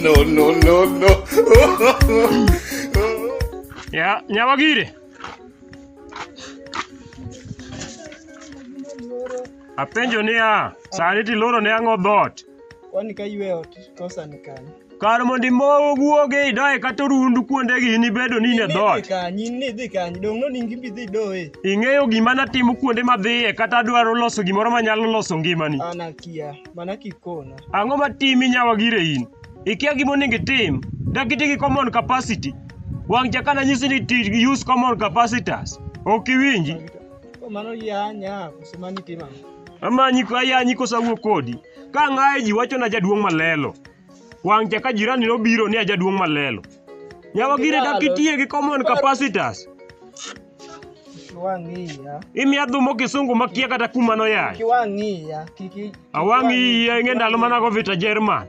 no, no, no, no. ya nyabagire apenjo niya sani tiloro ne ang'o dhoot Kwani ka ywe ot kosa ni kanye? Kar mondo imow guoge idoye kata orundu kuondegi in ibedo ni in e dhoot. Nidhi kany, in nidhi kany, donge noningi in bidhi idoye? Ing'eyo gima natimo kuonde madhiye kata adwaro loso gimoro manyalo loso ngimani. An akia, mana kikona. Ang'o matimi nyawa gire in? Ikia gima onego itim. Dak iti gi common capacity. Wang' cha kana nyisi ni ti gi use common capacitors. Ok iwinji. Ko mano yanya, kose mano itimo ang'o? Amanyi ayanyi kose awuo kodi. Ka ng'aye ji wacho na jaduong' malelo. Wang' cha ka jirani nobiro ni a jaduong' malelo. Nyawa gire dak itiye gi common capacitas. Kiwang'iya. Imiya dhumo kisungu makia kata kuma noyaye. Kiwang'iya. Kiki. Awang' iya ing'e ndalo manago vita Jerman.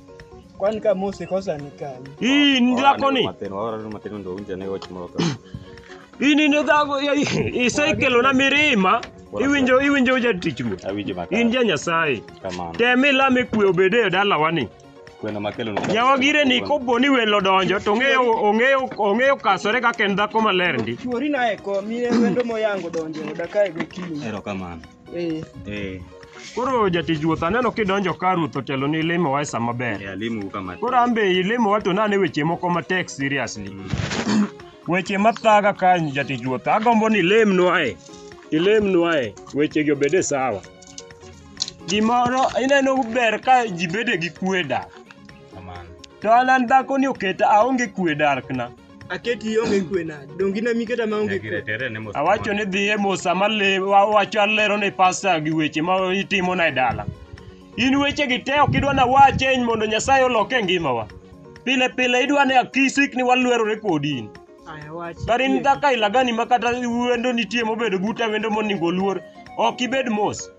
Kwani kama Mose kosa ni kani? Hii ni dhako ni. Hii ni dhako ya hii cycle na mirima. Iwinjo iwinjo jatich mu. In ja Nyasaye. Temi lame kwe obede e dalawa ni. Nyawagire ni kopo ni welo donjo to ong'eyo ong'eyo ong'eyo kasore kaka en dhako maler ndi. Chuori naye ko mine wendo moyango donjo e dakae gokinyi. Eh. Eh. Koro jatich ruoth aneno kidonjo ka ruoth otelo ni limo wa e sa maber. Eh, alimo kama. Koro an be ilimo wa to nane weche moko matek seriously. Mm. Weche mathaga ka jatich ruoth agombo ni ilemnwa e. Ilemnwa e weche gi obede sawa. Gimoro ineno ber ka ji bede gi kweda. To an an dhako ni oketa aonge kwe darkna. Aketi ionge kwe nade? Donge in ema iketa maonge Nyagi kwe? retere ne mos. Awacho ni dhi e mosa male wawacho alero ne pasta gi weche ma itimo na e dala. In weche gi te ok idwa na wache eny mondo Nyasaye olok e ngimawa. Pile pile idwa ne akisik ni walwerore kodi in. Aya wach. Kar in dhaka ilagani ma kata wendo nitie mobedo buta wendo moningo luor. Ok ibed mos.